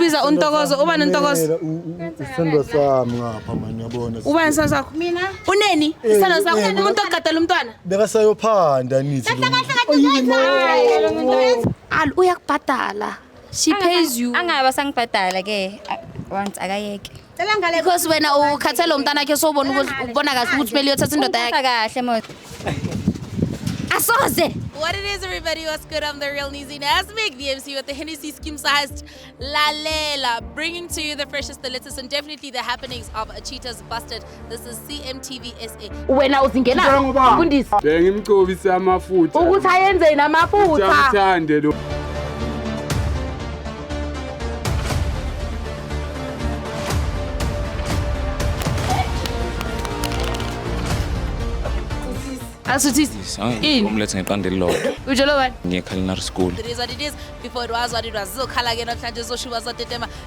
Biza untokozo uba nentokozo. Isithando sami ngapha manje yabona. Uba nesithando sakho. Mina. Uneni? Eh, isithando sakho eh, umuntu ogadela umntwana. Beka sayophanda nithi. Kahle kahle kahle. Al uyakubhadala. She pays you. Angaba sangibhadala ke once akayeke. Cela ngale because wena ukhathele umntana wakhe sobona ukuthi ubona kahle ukuthi kumele uyothatha indoda yakhe Ungiphatha kahle mos. Asoze. What it is, everybody? What's good? I'm the real Nizi Nasmik, the MC with the Hennessy Skim Sized La Lela, bringing to you the freshest, the latest, and definitely the happenings of Cheetah's Busted This is CMTV SA. wena uzingena Ngicela ngoba. mfundisi Bengimcobise amafutha. ukuthi ayenzeni amafutha Ngithande lo. asuthisi Ini? umlethe ngeqanda elilodwa utshelwe bani ngiye-culinary school It is what it is. Before it was what it was. Zizokhala ke namhlanje zoshuba zotetema.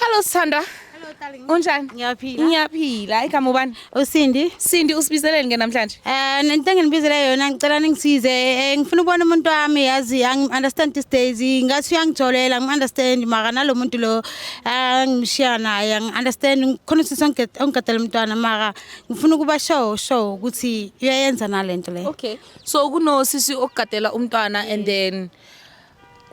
Hello Sithanda. Hello darling. Unjani? Ngiyaphila. Ngiyaphila. Igama ubani? Usindi. Sindi usibizeleni ke namhlanje? Eh nento enginibizele yona ngicela ningisize. Eh, ngifuna ukubona umuntu wami yazi angi understand these days. Ngathi uyangijolela ngi understand mara nalomuntu lo angishiya naye ngi understand khona usisi ongigadela umntwana mara ngifuna ukuba show show ukuthi uyayenza nalento le. Okay. So kuno sisi okugadela umntwana and then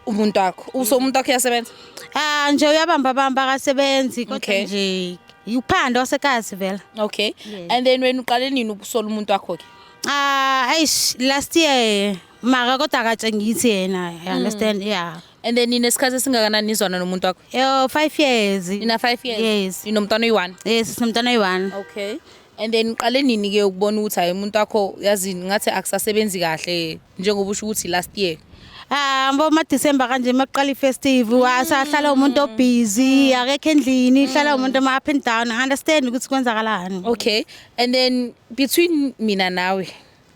umuntu wakho uso umuntu wakho uyasebenza Ah nje uyabamba bamba akasebenzi kodwa Okay. nje uphando wasekasi vela. okay Yes. and then wena uqale nini ukusola umuntu wakho ke Ah eish last year maka kodwa akatshengisi yena. You understand? Yeah. and then nina isikhathi esingakanani nizwana nomuntu wakho Yo 5 years. nina 5 years Yes. ninomntwana oyi-one Yes sinomntana oyi-1. okay and then uqale nini ke ukubona ukuthi hayi umuntu wakho yazini ngathi akusasebenzi kahle njengoba usho ukuthi last year hamba ah, umadecember kanje makuqala ifestive wasahlala umuntu obusy akekho endlini hlala umuntu ama up and down i understand ukuthi kwenzakalani okay and then between mina nawe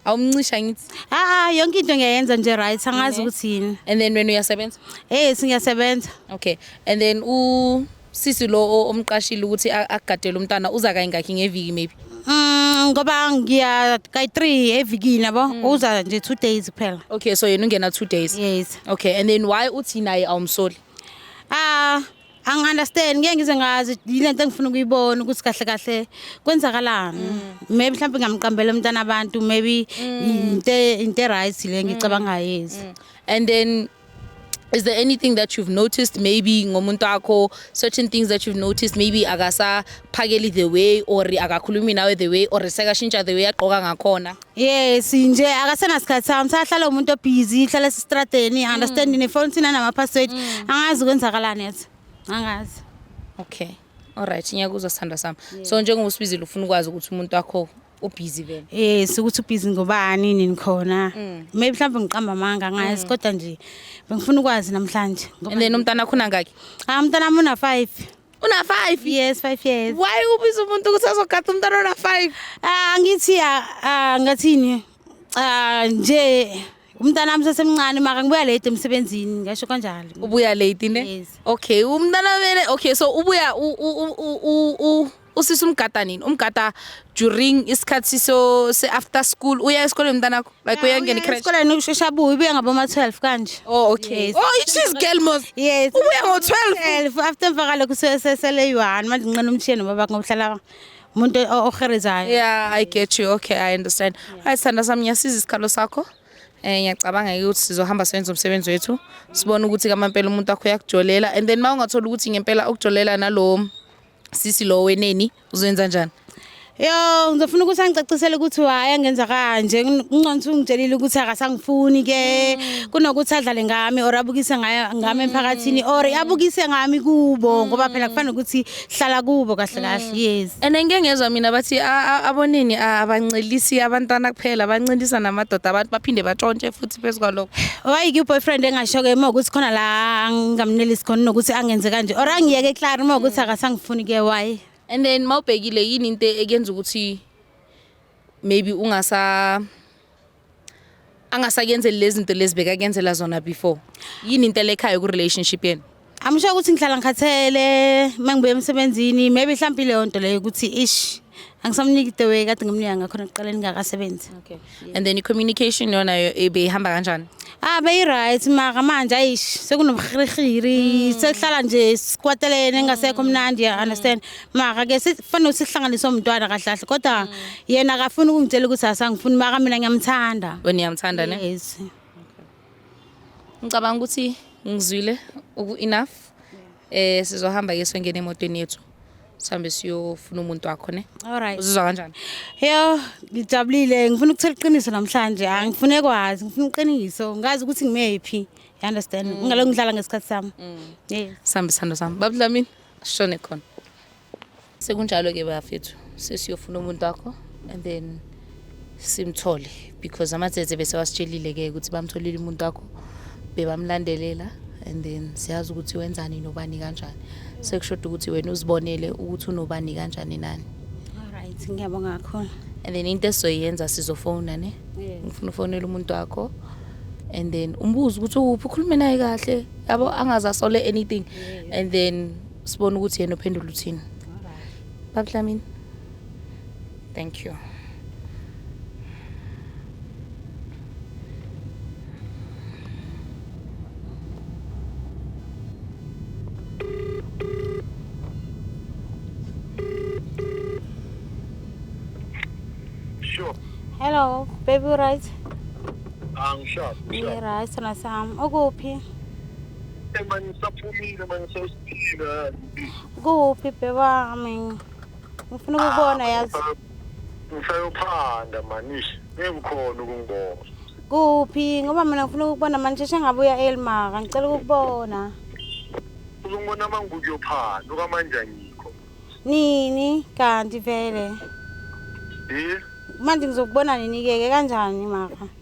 awumncisha ngithi a ah, ah, yonke into ngiyayenza nje right angazi ukuthi yini and then wena uyasebenza eh singiyasebenza okay and then u Sisi lo omqashile ukuthi akugadele umntana uza kayingakhi ngeviki maybe. Mm, ngoba ngiya kayi 3 evikini yabo mm. uza nje 2 days kuphela. Okay so yena ungena 2 days. Yes. Okay and then why uthi naye awumsoli? Ah angi-understand ngeke ngize ngazi yile nto engifuna ukuyibona ukuthi kahle kahle kwenzakalani mm. maybe mhlawumbe ngamqambela umntana abantu maybe mm. into e-right le ngicabangayo yezi mm. and then is there anything that you've noticed maybe ngomuntu wakho certain things that you've noticed maybe akasaphakeli the way or akakhulumi nawe the way or sekashintsha the way agqoka ngakhona yes nje akasenasikhathi sami usahlala umuntu obhizi ihlala esistradeni understand mm. nefoni thina namaphaswedi mm. angazi ukwenzakalani yathi angazi okay all right ngiyakuzwa sithandwa sami so njengoba usibizile ufuna ukwazi ukuthi umuntu wakho ubhizi vele eh sokuthi ubhizi ngobani nini khona mm. maybe mhlawumbe ngiqamba amanga ngayazi mm. kodwa nje bengifuna ukwazi namhlanje ngoba nina umntana khona ngaki ah umntana una 5 una 5 yes 5 years why ubiza umuntu ukuthi azogada umntana una 5 ah ngithi ah, ah ngathini ah nje umntana wami sesemncane maka ngibuya late emsebenzini ngasho kanjalo ubuya late ne yes. okay umntana vele okay so ubuya usisi umgada nini umgada during isikhathi so se after school uya esikoleni mntanakho like uyangena icrash esikoleni ushesha abuye ubuya ngaboma 12 kanje oh okay Yes. oh she's girl mos yes ubuya ngo 12 12 after emva kalokho sesele yi-one manje nqina umshiyeni nobaba ngokuhlala umuntu o- oherezayo yeah i get you okay i understand hayi sithanda sami ngiyasiza isikhalo sakho Eh ngiyacabanga ke ukuthi sizohamba senze umsebenzi wethu sibone ukuthi kamampela umuntu wakho uyakujolela and then mawungathola ukuthi ngempela ukujolela nalo sisi lo weneni uzoyenza njani Yo ngizofuna ukuthi angicacisele ukuthi why angenza kanje nginconsa ungitshelile ukuthi akasangifuni ke mm. kunokuthi adlale ngami or abukise ngayo ngami mm. emphakathini or abukise ngami kubo mm. ngoba phela kufanele ukuthi hlala kubo kahle kahle yes and ngeke ngezwa mina bathi abonini abancelisi abantwana kuphela abancelisa namadoda abantu baphinde batshontshe futhi futhi phezu kwalokho why ke boyfriend engashoke uma ukuthi khona la ngamnelisi khona nokuthi angenze kanje or angiyeke clear uma ukuthi akasangifuni ke why and then mawubhekile yini into ekenza ukuthi maybe ungasa angasakenzeli lezi zinto lezibeka kenzela zona before yini into elekhayo ku relationship yenu Amusho ukuthi ngihlala ngikhathele mangibuya emsebenzini maybe mhlawumbe leyo nto leyo ukuthi ish angisamniki the way kade ngimnika ngakhona kuqala ningakasebenzi okay and then i-communication yona ibihamba kanjani ah beyi-right maka manje ayish sekunomhirihiri hmm. sekuhlala nje sikwatelene engasekho hmm. mnandi ya understand hmm. maka ke sifanele ukuthi sihlanganise omntwana kahle kahle kodwa yena akafuni ukungitshela ukuthi asangifuni maka mina ngiyamthanda wena uyamthanda ne yes Ngicabanga ukuthi ngizwile uku-enough eh sizohamba ke sengena emotweni yethu sihambe siyofuna umuntu wakho ne Alright. uzizwa kanjani Yo, ngijabulile. Ngifuna ukuthola iqiniso namhlanje. Angifune kwazi, ngifuna iqiniso. Ngazi ukuthi ngimephi. You understand? Ngingalo ngidlala ngesikhathi sami. Yes. sihambe sithando sami babudlamini ashone khona Sekunjalo ke bafethu sesiyofuna umuntu wakho and then simthole because amatsetse bese wasitshelile ke ukuthi bamtholile umuntu wakho bebamlandelela and then siyazi ukuthi wenzani nobani kanjani sekushoda ukuthi wena uzibonele ukuthi unobani kanjani nani alright ngiyabonga kakhulu and then into esizoyenza sizofona ne ngifuna ufonela umuntu wakho and then umbuze ukuthi ukuphi ukhulume naye kahle yabo angaze asole anything and then sibone ukuthi yena uphendula uthini baba Dlamini thank you Sure. Hello, baby right? Angishazi. Ngi right na Sam. Ukuphi? manje ngisaphumile manje sewusiphila kuphi bhebami ngifuna ukubona yazi ngisayophanda manish ngibukhona ukungibona kuphi ngoba mina ngifuna ukubona manje sheshe ngabuya elmaka ngicela ukukubona uzongibona uma ngikuyophanda okamanje angikho nini kanti vele yi manje ngizokubona nini-ke ke kanjani maka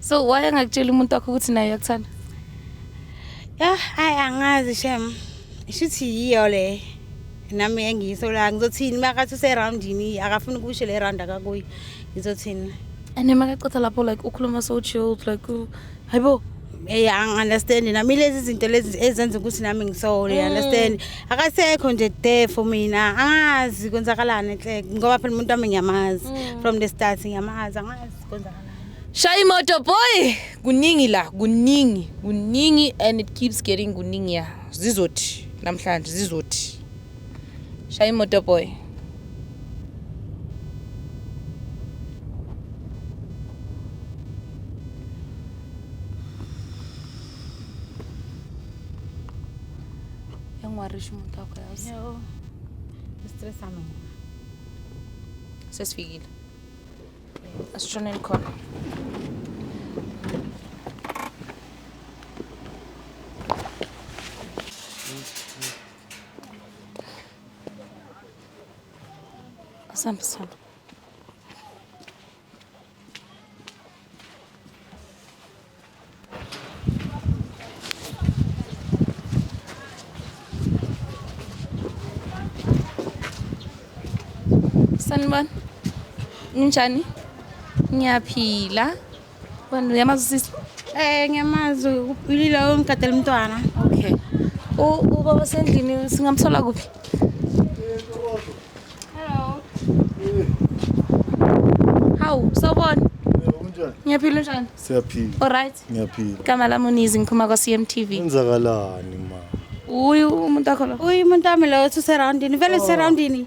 so why angakutsheli umuntu wakho ukuthi naye uyakuthanda yah hayi angazi shem shuthi yiyo le nami engiyiso la ngizothini makathi userowundini akafuni ukusho le round akakuyo ngizothini and emakacotha lapho like ukhuluma so chilled like hayibo Hey angiunderstand nami lezi zinto lezi ezenza ukuthi nami ngisole mm. understand akasekho nje there for mina angazi kwenzakalani enhle ngoba phela umuntu wami ngiyamazi mm. from the start ngiyamazi angazi kwenzakalani Shaya imoto boy kuningi la kuningi kuningi and it keeps getting kuningi ya zizothi namhlanje zizothi Shaya imoto boy. Yangiwarisha umuntu wakho yazi. Yo. Stress ami. Sesifikile. Asishoneni khona. Asante sana. Sanibona. Ninjani? Ngiyaphila. Wena uyamazi sisi? Eh ngiyamazi ulilo ongigadela umntwana. Okay. U ubaba sendlini singamthola kuphi? Hawu, sawubona. Unjani? Ngiyaphila unjani? Siyaphila. All right. Ngiyaphila. Igama lami uNizi ngiphuma kwa-CMTV. Kwenzakalani ma? Uyu umuntu wakho lo. Uyu umuntu wami lo useroundini. Vele useroundini.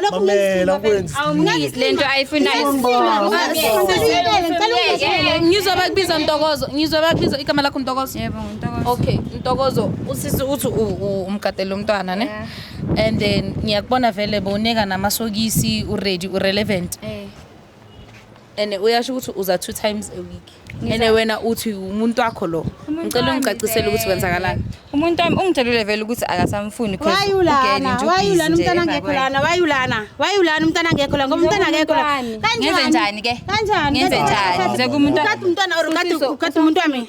Lokhu Mamela kwenzi. Awumniki lento ayifunayo. Ngizwa bakubiza Ntokozo. Ngizwa bakubiza igama lakho Ntokozo. Yebo ngintokozo. Okay, Ntokozo usisi uthi u- u- umgadele umntwana ne? Yeah. And then ngiyakubona vele bowuneka namasokisi uready urelevant. Eh. and uyasho ukuthi uza two times a week and wena uthi umuntu wakho lo ngicela ungicacisele ukuthi kwenzakalani umuntu wami ungitshelile vele ukuthi akasamfuni wayulana wayulana umntana ngekho lana wayulana wayulana umntana ngekho la ngoba umntana ngekho la kanjani ngenze njani ke kanjani ngenze njani ngize kumuntu ukati umntwana or ukati ukati umuntu wami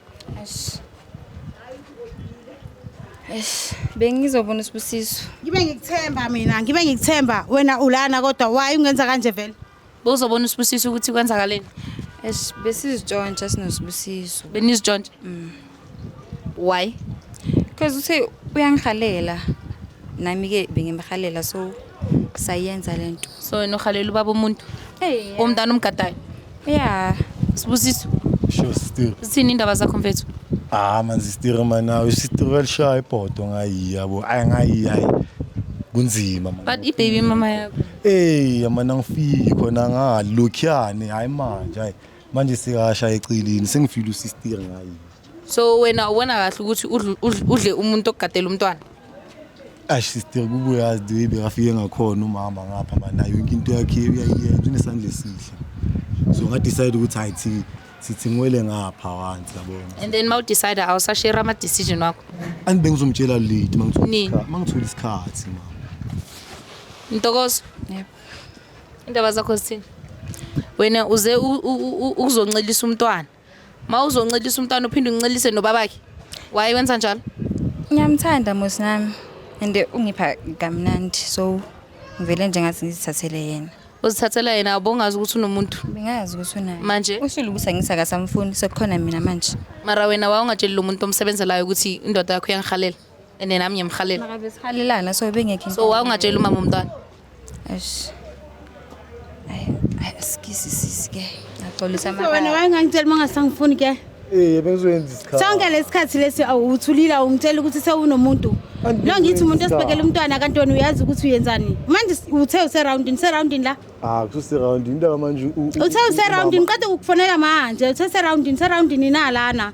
Eish. Eish, bengizobona usibusiso. Ngibe ngikuthemba mina, ngibe ngikuthemba wena ulana kodwa why ungenza kanje vele? Bowuzobona usibusiso ukuthi kwenzakaleni. Eish, besizitshontsha sinosibusiso. Benizitshontsha. Why? Because uthe uyangihalela. Nami ke bengimhalela so sayenza lento. so wena uhalela ubaba umuntu Hey. umntana umgadayo Yeah. sibusiso Sho sister. zithini indaba zakho mfethu Ah man sister man nawe sister welishaya ibhodo ngayi yabo. Ay ngayi hayi. Kunzima man. but ibaby mama yakho Hey man angifiki khona ngalokhyane hayi manje hayi. Manje sekasha eceleni sengifile usister ngayi. so wena ubona kahle ukuthi udle umuntu ogadela umntwana ash sister kubuyazi the way bekafike ngakhona umama ngapha manayo yonke into yakhe uyayiyenza unesandla esihle so ngadecide ukuthi hayi thi sithi ngiwele ngapha wansi yabona and then mawudecide awusashare ama decision wakho and bengizomtshela late mangithola mangithola isikhathi ma Ntokozo yebo indaba zakho sithini wena uze ukuzoncelisa umntwana ma uzoncelisa umntwana uphinde uncelise nobabakhe waye wenza njalo ngiyamthanda musi nami and ungipha kamnandi so ngivele nje ngathi ngizithathele yena uzithathela yena abongazi ukuthi unomuntu bengazi ukuthi unaye manje ushilo ukuthi angisakasamfuni sekukhona mina manje mara wena wawungatsheli lo muntu omsebenzelayo ukuthi indoda yakho iyangihalela and then nami ngiyamhalela maka besihalelana so bengekho so wawungatsheli umama umntwana eish ay ay skisi sisi ke ngaxolisa So wena maka wayengangitshela uma ngasangifuni ke Eh bengizoyenza isikhathi. sonke lesikhathi lesi awu, uthulile awungitshela ukuthi sewunomuntu Angithi lo ngithi umuntu uyenza. osibekela umntwana kantoni uyazi ukuthi uyenzani manje s- uthe useroundini seroundini la Ah kususe round indaba manje. uthe useroundini qeda ukukufonela manje uthe seroundini seroundini nalana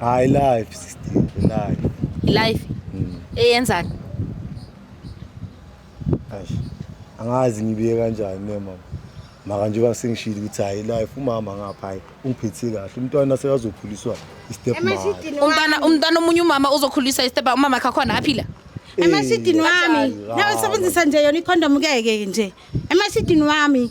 Hayi life sister, life. Life Mm. eyenzani? Eish. Angazi ngibiye kanjani ne mama. Maka njengoba sengishilo ukuthi hayi life umama ngapha hayi ungiphethe kahle. Umntwana sekazokhuliswa istep mother. Emasidini Umntwana wami. umntwana omunye umama uzokhulisa isteba umama wakhe khona aphila. Emasidini wami. Kanjani? Nawe sebenzisa nje yona ikhondomu keke nje. Emasidini wami.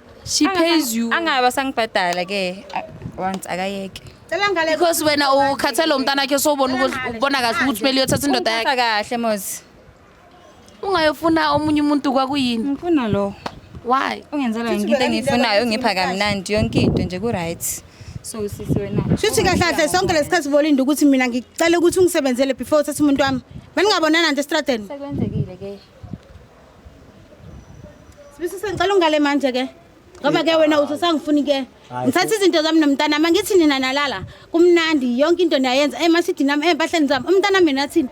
she pays you angabe asangibhadala ke uh, once akayeke Cela ngale. because wena ukhathele umntana wakhe sobona ukuthi ubona kahle ukuthi kumele uyothatha indoda yakhe Ungiphatha kahle mozi ungayofuna omunye umuntu kwakuyini ngifuna lo why ungenzela yonke into engiyifunayo ungipha kamnandi yonke into nje ku-right so sisi wena Shuthi kahle kahle sonke lesikhathi bolinda ukuthi mina ngicela ukuthi ungisebenzele before uthathe umuntu wami. Beningabonana nje estradeni. sekwenzekile ke Sibisisa ngicela ungale manje ke. Ngoba ke wena uthi usangifuni ke. Ngithatha izinto zami nomntana mama ngithi nina nalala. Kumnandi yonke into niyayenza emashidi nami empahleni zami. Umntana mina athini?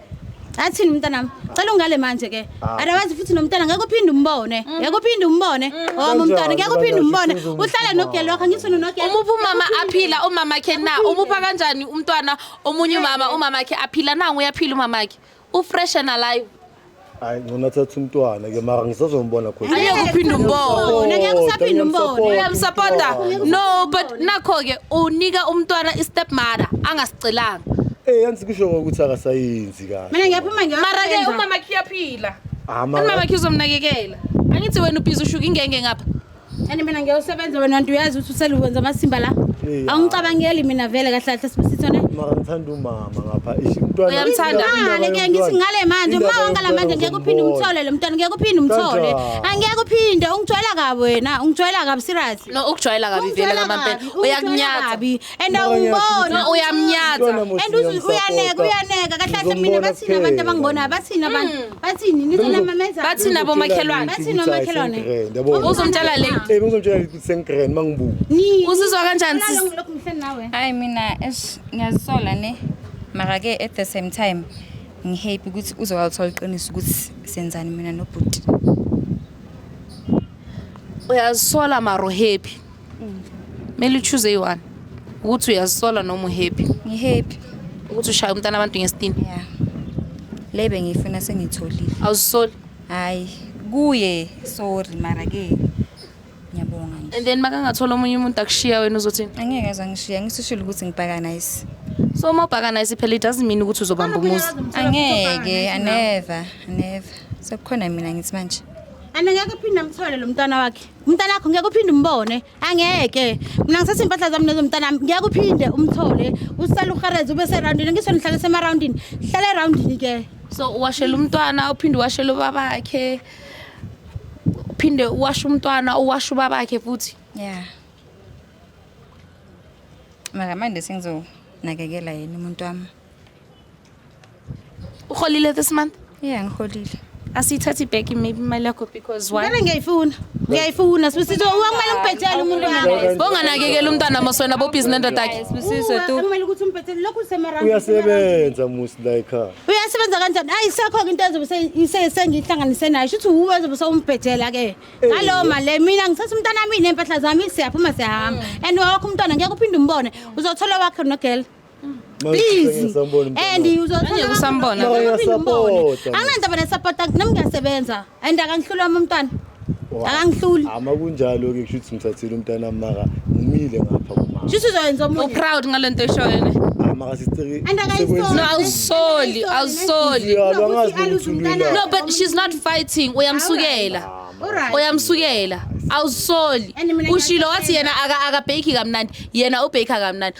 Athini umntana wami? Cela ungale manje ke. Ah. Otherwise futhi nomntana ngeke uphinde umbone. Mm. Ngeke uphinde umbone. Mm. Oh umntana ngeke uphinde umbone. Uhlala nogelo wakho ngithi nogelo. Umuphi umama aphila umama ke na? Umupha kanjani umntwana omunye umama umama ke aphila nangu uyaphila umama ke. ufresh and alive hayi ngcono athatha umntwana ke mara ngisazombona khona angeke uphinde umbone ngeke usaphinde umbone uyamsupporta no but nakho ke unika umntwana i-step mother angasicelanga eh yansi kusho ukuthi akasayenzi kahle mina ngiyaphuma ngiyaphuma mara ke umama khiyaphila ah, umama khizomnakekela angithi wena ubhizi ushuka ingenge ngapha Kanti mina ngiyawusebenza wena nto uyazi ukuthi useluwenza amasimba la. Eh, Awungicabangeli mina vele kahle kahle sibusitho ne. Mara ngithanda umama ngapha. Eish umntwana. Uyamthanda. Ngale ke ngithi ngale manje uma wangala manje ngeke uphinde umthole lo mntwana ngeke uphinde umthole. Angeke uphinde ungijwayela kabi wena ungijwayela kabi serious. No ukujwayela kabi vele ngamampela. Uyakunyatha. and awumbona uyamnyatha and uyaneka uyaneka kahle kahle mina bathini abantu abangibona bathini abantu hmm. bathini nizonamameza bathini abomakhelwane bathini omakhelwane uzomtshela le eh uzomtshela le sengigrand mangibuka uzizwa kanjani sisi lokho ngihleli nawe hayi mina esh ngiyazisola ne mara ke at the same time ngihappy ukuthi uzowalithola iqiniso ukuthi senzani mina nobhuti uyazisola maro happy kumele uchoose eyi-one ukuthi uyazisola noma uhappy ngihappy ukuthi ushaya umntana abantu ngesitini ya le bengiyifuna sengiyitholile awuzisoli hhayi kuye sorry mara-ke ngiyabonga nje and then makangathola omunye umuntu akushiya wena uzothini angeke aze angishiya ngisishile ukuthi ngibhakanayisi so uma ubhakanayisi phela it doesn't mean ukuthi uzobamba umuzi angeke aneva aneva sekukhona mina ngithi manje anengeke phinde amthole lo mntwana wakhe umntanakho ngeke uphinde umbone angeke mina ngisase impahla zami nezo mntanami ngeke uphinde umthole usale uhereze ube serowundini ngisho nihlale semarowundini hlale erawundini ke so uwashela umntwana uphinde uwashela ubabakhe uphinde uwashe umntwana uwashe ubabakhe futhi ya mara manje sengizonakekela yena umuntu wami uholile this month yeah ngiholile asiyithathi back maybe imali yakho because why Ngeke ngiyayifuna. Ngiyayifuna sibisizo ukumele ngibhethele umuntu wami. bonganakekela umntwana moswena bobhizi nendoda yakhe Sibusiso tu. Kumele ukuthi umbhethele lokhu usemarami. uyasebenza musi la ekhaya Uyasebenza kanjani? Ayi sekho ke into ezobe se- ise- sengihlanganise nayo. Shuthi uwe ezobe sewumbhethela ke. Ngalowo mali le mina ngithatha umntana wami nempahla zami siyaphuma siyahamba. And wakho umntwana ngeke uphinde umbone. Uzothola wakhe no girl. busy and uzothola anginandaba nesapota nami ngiyasebenza and akangihluli wami umntwana akangihluli ama kunjalo ke kusho ukuthi ngithathile umntana maka ngimile ngapha kumama shuthi uzoyenza omunye uproud ngalento eshoyo ne maka sisiciki and akayisoli no awusoli awusoli no but she's not fighting uyamsukela uyamsukela awusoli ushilo wathi yena akabheki kamnandi yena ubheka kamnandi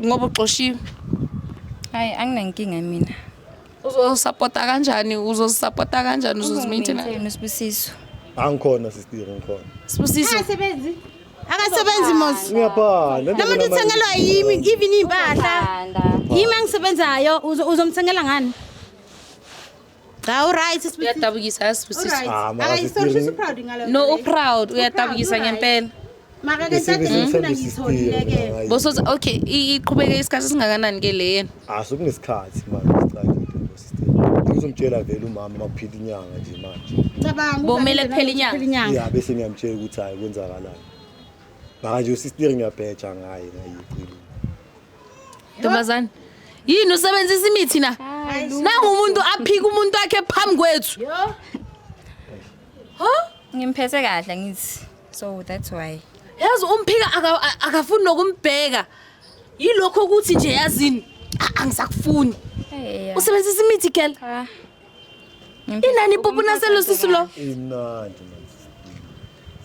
ngoba uxoshiwe hayi anginankinga mina uzosapota kanjani uzosapota kanjani uzozimaintaina usibusiso angikhona sister ngikhona sibusiso asebenzi akasebenzi mos ngiyabhala noma ndithengelwa yimi even impahla yimi angisebenzayo uzomthengela ngani Cha uryt sisi. Uyadabukisa yazi sisi. Uryt. Ah, makazi Akayisola sisi Piri. proud ngalo. No uproud uyadabukisa ngempela. Maka ke Isifebe tata ngifuna sithanda ngitholile isipiro, ke. makazi. Boso okay i- iqhubeke isikhathi singakanani ke le yena? Ah, sekunesikhathi manje siqale into sister. Ngizomtshela vele umama makuphila inyanga nje manje. Cabanga ukuthi Bomele angeke kuphele inyanga. kuphele inyanga. Yeah, bese ngiyamtshela ukuthi hayi kwenzakalani. Manje usister ngiyabheja ngaye ngayicilo. Ntombazane. Yini usebenzisa imithi na? Nangu umuntu aphika umuntu wakhe phambi kwethu. Huh? Ngimphethe kahle ngithi. So that's why. Yazi umphika aka- a- akafuni nokumbheka. Yilokho ukuthi nje yazini. Ah, Angisakufuni. Hey. Usebenzisa imithi girl. Ah. Inani pupu na selo sisulo. Inani.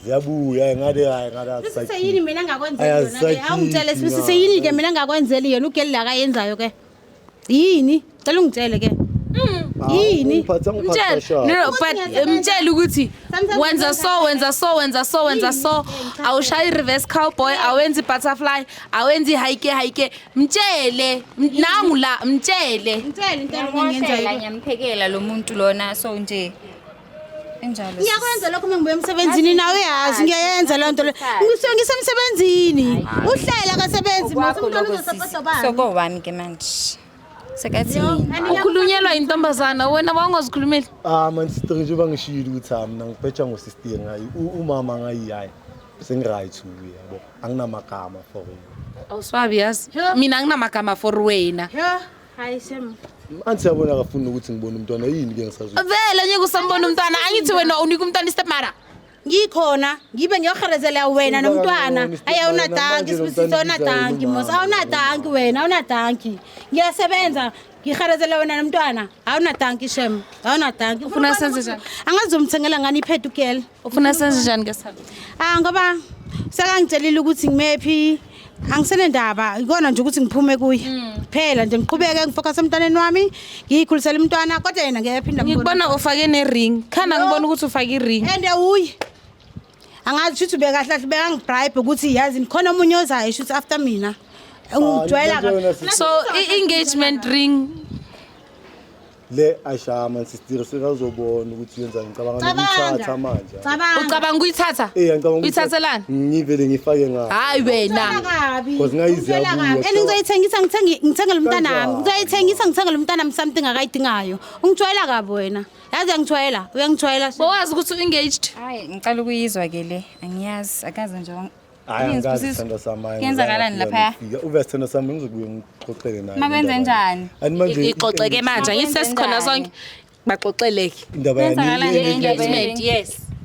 Ziyabuya ngade hayi ngade asakhi. Sise yini mina ngakwenzela yona ke? Awungitshele sise yini ke mina ngakwenzela yona ugeli la kayenzayo ke? Yini? Cela ungitshele ke. yini mtshele ukuthi wenza so wenza so wenza so wenza so awushayi i-reverse cowboy awenzi i-butterfly awenzi i-hike hike Mtshele m- nangu la mtshele. Ngitshele into Ngiyamosha la, engenzela. ngiyamphekela lo muntu lona so nje enjalo. Ngiyakwenza lokho uma ngibuya emsebenzini nawe yazi ngiyayenza loo nto leyo. Ngisuke ngisemsebenzini. Uhlela akasebenzi mase Kwakho umntwana lokho sisi. uzosapotobani. Soko wami ke manje. Sekathi mina. Ukhulunyelwa intombazana wena wawungazikhulumeli. Ah man sister njengoba ngishilo ukuthi ah mina ngibheja ngo-sister ngayi u- umama ngayiyayi sengiright uye yabo anginamagama for you awuswabi yazi mina anginamagama for wena hayi shem anti siyabona akafuni ukuthi ngibone umntwana yini ke ngisazwe vele ngeke usambona umntwana angithi wena unika umntwana istepmara ngikhona ngibe ngiyoherezela wena nomntwana ayi awunadanki sibusiso awunadanki mos awunadanki wena awunadanki ngiyasebenza ngiharezela wena nomntwana awunadanki shem awunadanki Ufuna senze njani? angazomthengela ngani iphethe ugela ufuna senze njani ke salo ah ngoba sekangitshelile ukuthi ngimephi angisenendaba ikona nje ukuthi ngiphume kuye phela nje ngiqhubeke ngifocus emntwaneni wami ngiyikhulisela umntwana kodwa yena ngeke phinda ngikubona ufake ne-ring khanda ngibona ukuthi ufake i-ring ende uye angazi shuthi ubekahle kahle bekangibribe ukuthi yazi khona omunye ozayo shuthi after mina Ah, ungijwayela into nje kabi- yona so i-engagement ring le ashama nsistiri sekazobona ukuthi yenza ngicabanga Cabanga. nokuyithatha manje cabanga ucabanga ukuyithatha Eh, ngicabanga ukuthi- uyithathelani ngivele ngifake ngayo hayi wena kabi Cause ngayiziya Ngicela kuwe, kabi. and ngizoyithengisa ngithenge- ngithengele umntanami Kanjani? ngizoyithengisa ngithengele umntanami something akayidingayo ungijwayela kabi wena yazi uyangithwayela uyangithwayela bowazi ukuthi u-engaged hayi ngicela ukuyizwa ke le angiyazi akaze nje yenzakalani laphaya uvese sithando sami ngizokubuye ngixoxele naye makwenze njani ixoxeke manje angithi sesikhona sonke baxoxeleke indaba yes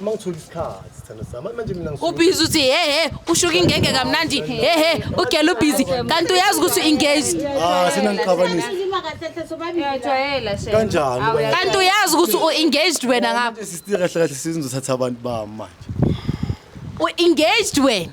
uma ngithola isikhathi sithando sami Hayi, manje mina ngisuke- ubhizi uthi hehe ushuka ingenge kamnandi hehe ugela ubhizi kanti uyazi ukuthi u-engaged Ah, sina ngixabanisa Uyajwayela shame. kanjani Awu, uba- kanti uyazi ukuthi u-engaged wena ngapha Sisitira kahle kahle sizothatha abantu bami manje u-engaged wena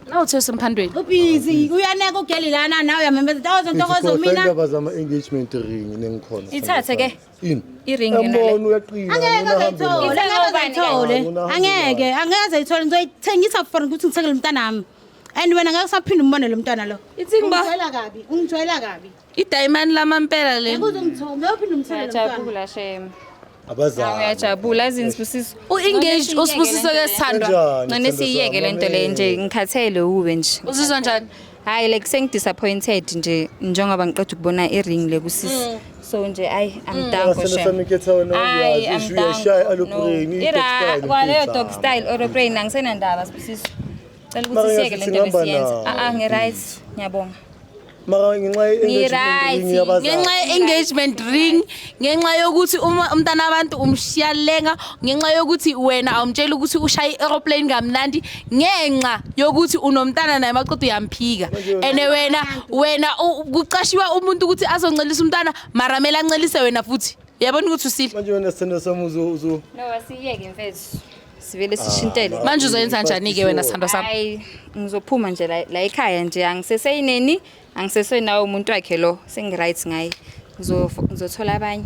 Nawuthi usemphantweni. Ubhizi uyaneka ugeli lana nawe uyamemeza ntokozo ntokozo mina. Indaba zama engagement ring nengikhona. Ithathe ke. Ini? I-ring yona le. Yabona uyaqina. Angeke ngayithola. Ngeke ngayithola. Angeke, angeke ngayithola. Ngizoyithengisa for ukuthi ngithengele umntanami. And wena ngeke usaphinde umbone lo mntwana lo. Ithini ba? Ungijwayela kabi, ungijwayela kabi. idayimani lamampela le Ngiyajabula shame. abazali Uyajabula azini sibusiso. u-engage usibusiso ke sithandwa Kanjani, Ngcane sithandwa siyiyeke sami, lento le nje ngikhathele uwe nje. uzizwa njani Hayi like sengidisappointed nje njengoba ngiqeda ukubona i-ring le kusisi. So nje ay I'm down for Abasana shame. sami ketha wena Ay uyazi, I'm ishu down. yashaya No. alopreyini, i-dog Ira style, kwaleyo pizza. dog style or brain angisenandaba sibusiso. Cela Mara ukuthi siyeke ngiyathi lento singamba besiyenza. nawo. Ah ah ngi right. Ngiyabonga. mara ngenxa ye- Ngi-right. engagement ring ngenxa yabazali. ye-engagement ring ngenxa yokuthi uma umntana abantu umshiya lenga ngenxa yokuthi wena awumtsheli ukuthi ushaye i-aeroplane kamnandi ngenxa yokuthi unomntana naye maqeda uyamphika and wena wena u- kuqashiwa umuntu ukuthi azoncelisa umntana mara mele ancelise wena futhi uyabona ukuthi usile manje wena sithando sami uzo- uzo- No, asiyeke mfethu. sivele sishintele Ah, Manje uzoyenza njani ke wena sithandwa sami? hayi ngizophuma nje la la ekhaya nje angiseseyineni angisesenawo umuntu wakhe lo sengi-right ngaye Ngizof- ngizothola abanye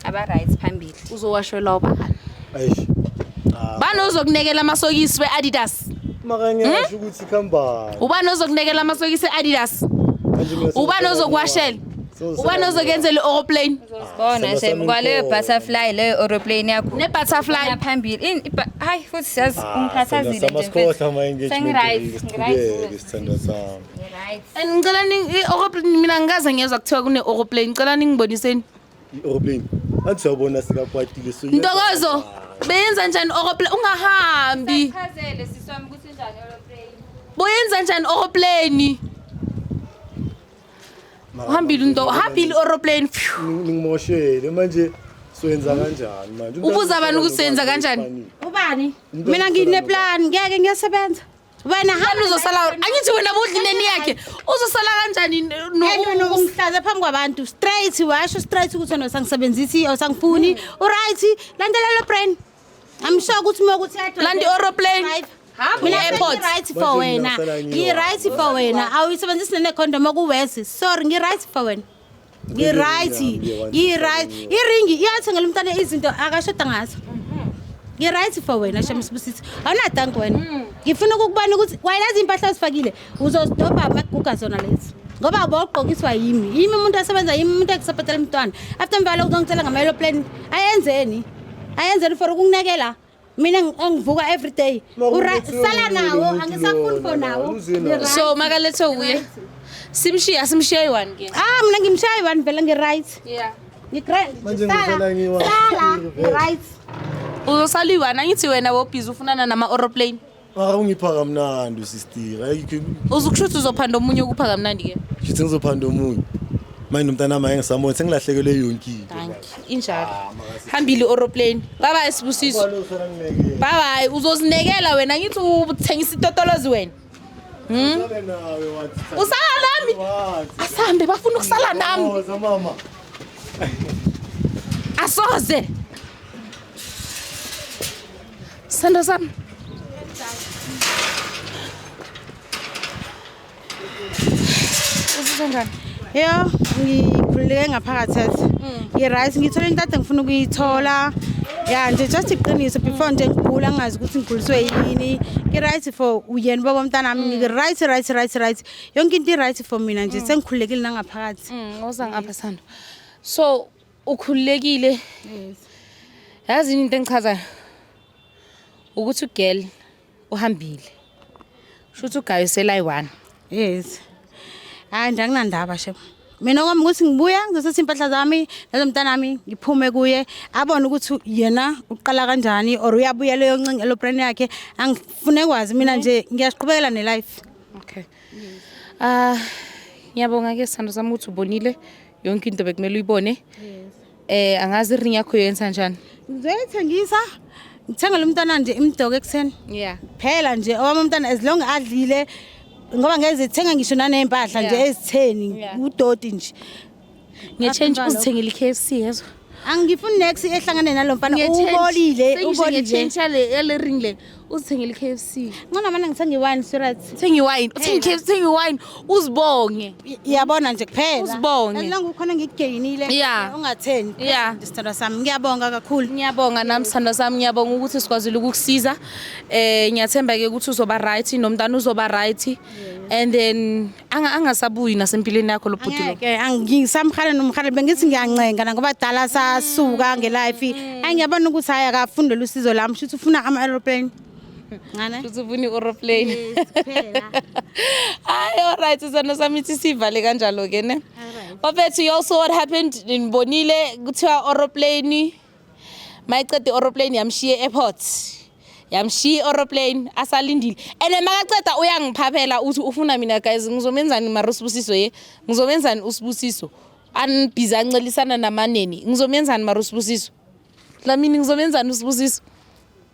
aba-right phambili Uzowashwela ubani? Eish. Ah, Bani ozokunekela amasokisi we-Adidas? maka ngiyasho ukuthi khambani. Ubani ozokunekela amasokisi e-Adidas? Manje mina Ubani sengiqala ozokuwashela? ubani ozokenzela i-aeroplane bona sekwaleyo butterfly leyo aeroplane yakho ne-butterfly phambili hayi futhi siyazi ah, ungikhathazile and ngicela i-aeroplane mina ngikaze ngiyezwa kuthiwa kune-aeroplane ngicela ningiboniseni i-aeroplane athi siyawubona sikakwatile ntokozo beyenza njani i-aeroplane ungahambi boyenza njani i-aeroplane uhambile unto uhambile aeroplane ngimoshele manje soyenza kanjani manje ubuza abantu ukuthi soyenza kanjani ubani mina ngineplan ngeke ngiyasebenza wena hamba uzosala angithi wena budlineni yakhe uzosala kanjani nokumhlaza phambi kwabantu straight washo straight ukuthi wena usangisebenzisi awusangifuni uright landelela brain I'm sure ukuthi uma ukuthi yadwa- Landa i-aeroplane. Right. Hamba Mina i-airport. sengi-right for Manje wena. ngingasala ngiwa. Ngi-right for wena. Awuyisebenzisi nene condom okuwesi. Sorry, ngi-right for wena. Ngi-right. Ngihambe, one, Ngi-right. two, three. Iringi iyathengela umntana izinto akashoda ngazo. Ngi-right for wena Shem Sibusisi. Awunadanki wena. Ngifuna ukukubona ukuthi wayelazi impahla ozifakile. uzozidobha amaguga zona lezi ngoba bawugqokiswa yimi yimi umuntu asebenza yimi umuntu ekusaphetela umntwana after mva lokho uzongitshela ngama-aeroplane ayenzeni ayenzeni for ukunginekela mina engivuka every day sala nawo angisafuni for nawo so makalethwe wuye simshiye asimshiye yi-one ke ah mina ngimshiya yi-one vele ngi-right ngi-right uzosala yi-one angithi wena wobhizi ufunana nama-aeroplane Mara ungipha kamnandi usister. Ayikho Uzukushuthi uzophanda omunye ukupha kamnandi ke. shuthi ngizophanda omunye. Manje nomntana wami engisamona sengilahlekelwe yonke into. Danki. Injalo. Hambile oroplane. Bye bye sibusiso. Bye bye. Uzozinekela wena ngithi uthengisa itotolozi wena. Hmm? Usala nami. Asambe bafuna ukusala nami. Asoze. Sando sami. Usizwa njani? Yho, ngikhululeke ngaphakathi ethi. Ngi-right, ngithole into ade ngifuna ukuyithola. Ya nje just iqiniso before nje ngigula ngazi ukuthi ngiguliswe yini. Ngi-right for uyena ubaba mntanami, ngi-right right right right. Yonke into i-right for mina nje sengikhululekile nangaphakathi. Mm, woza ngapha Sando. So ukhululekile yazi yini into engichazayo ukuthi ugirl uhambile shuthi ugayo selayi-one yes hayi nje anginandaba shem mina kwami ukuthi ngibuya ngizositha impahla zami nalo mntanami ngiphume kuye abone ukuthi yena uqala kanjani or uyabuya leyo ncinga elopren yakhe angifune kwazi mina nje ngiyasiqhubekela nelife okay ah ngiyabonga ke sithando sami ukuthi ubonile yonke into bekumele uyibone eh angazi iring yakho yenza njani ngizoyithengisa ngithenga lo mntana nje imdoke ekuseni yeah phela nje owami umntana as long adlile ngoba ngeke zithenga ngisho naney'mpahla nje Yeah. ezitheni Yeah. udoti nje ngetshentshe Asenjalo. uzithengele i-k f c yezwa angifuni nex ehlangane nalo mfana ubolile ubolile ngetshentsha le ring le uzithengile i-KFC ncona mana ngithenga iwine sirat thenga iwine uthenga i-KFC thenga iwine uzibonge iyabona nje kuphela uzibonge elonga ukhona ngigeyinile yeah ungatheni yeah isithandwa sami ngiyabonga kakhulu ngiyabonga nami sithandwa sami ngiyabonga ukuthi sikwazile ukukusiza eh ngiyathemba ke ukuthi uzoba right nomntana uzoba right and then anga angasabuyi nasempilweni yakho lo bhuti lo ke angisamhale nomhale bengithi ngiyancenga la ngoba dala sasuka ngelife angiyabona ukuthi hayi akafunde lusizo lami shuthi ufuna ama aeroplane ngane shuthi ufuna i-aeroplane hayi all right sisana sami ithi sivale kanjalo ke ne bafethu you also what happened nibonile kuthiwa aeroplane mayiqeda i-oroplane yamshiya e-airport yamshiya i-oroplane asalindile and makaceda uyangiphaphela uthi ufuna mina guys ngizomenzani mara usibusiso ye ngizomenzani usibusiso anibhizi ancelisana namaneni ngizomenzani mara usibusiso dlamini ngizomenzani usibusiso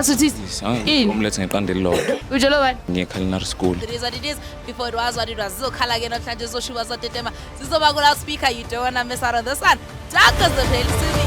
Asuthithi. Yini? Umlethe ngeqanda elilodwa. Utshelo bani? Ngiye-culinary school. It is what it is. Before it was what it was. Zizokhala ke namhlanje zizoshuba zotetema. Zizoba ku loudspeaker. You don't wanna miss out on this one. Dark as the pale city.